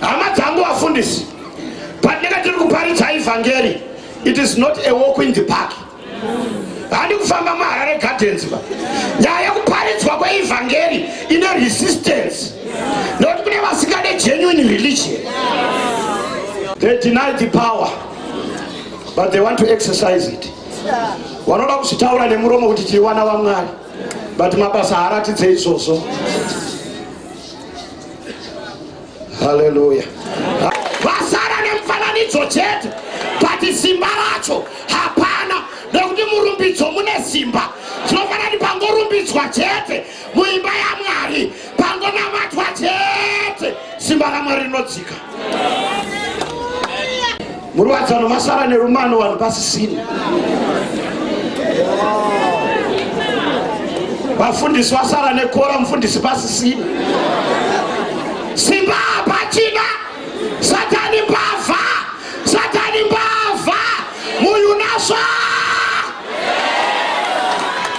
Hama dzangu vafundisi, patinenge tiri kuparidza evhangeri, it is not a walk in the park. Handi kufamba muHarare Gardens ba. Nyaya yekuparidzwa kweevhangeri ine resistance. Nekuti kune vasingade genuine religion. They deny the power but they want to exercise it. Vanoda kuzvitaura nemuromo kuti tiri vana vaMwari but mabasa haaratidze izvozvo. Haleluya. Vasara nemfananidzo chete but simba racho hapana nekuti murumbidzo mune simba tinofanira kuti pangorumbidzwa chete muimba yamwari pangonamatwa chete simba ramwari rinodzika Murwadzano masara nerumano vanhu pasisini. Vafundisi vasara nekora mufundisi pasisini. Simba pachina satani mbavha satani mbavha muyunaswa